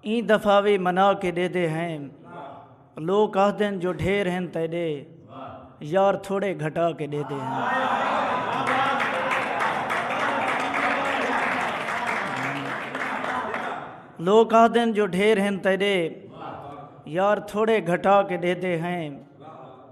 ایں دفعہ وی منا کے ڈیدے ہیں لوک آہدن جو ڈھیر ہن تیڈے یار تھوڑے گھٹا کے ڈیدے ہیں لوک آہدن جو ڈھیر ہن تیڈے یار تھوڑے گھٹا کے ڈیدے ہیں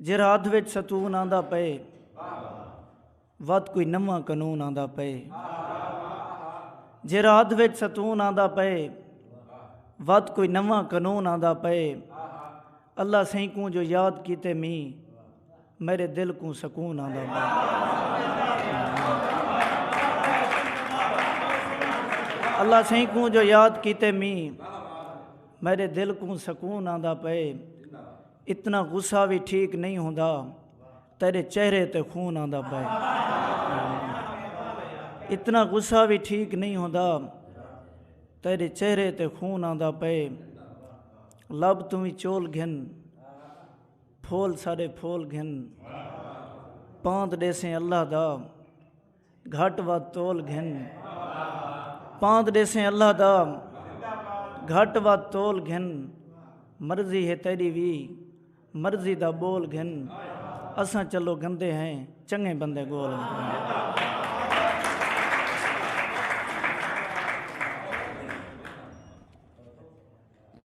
جے رات وچ ستون آندا پئے وت کوئی نواں قنون آندا پئے جے رات وچ ستون آندا پئے وت کوئی نواں قنون آندا پئے اللہ سائیں کوں جو یاد کیتے می میرے دل کوں سکون آندا پئے اللہ سائیں کوں جو یاد کیتے می میرے دل کوں سکون آندا پئے اتنا غصہ وی ٹھیک نئیں ہوندا تیڈے چہرے تے خون آندا پئے اتنا غصہ وی ٹھیک نئیں ہوندا تیڈے چہرے تے خون آندا پئے لب توں وی چول گھن پھول ساڈے پھول گھن پاند ڈیسیں اللہ دا گھٹ ودھ تول گھن پاند ڈیسیں اللہ دا گھٹ ودھ تول گھن مرضی ہے تیری وی مرضی دا بول گھن اساں چلو گندے ہیں چنگے بندے گول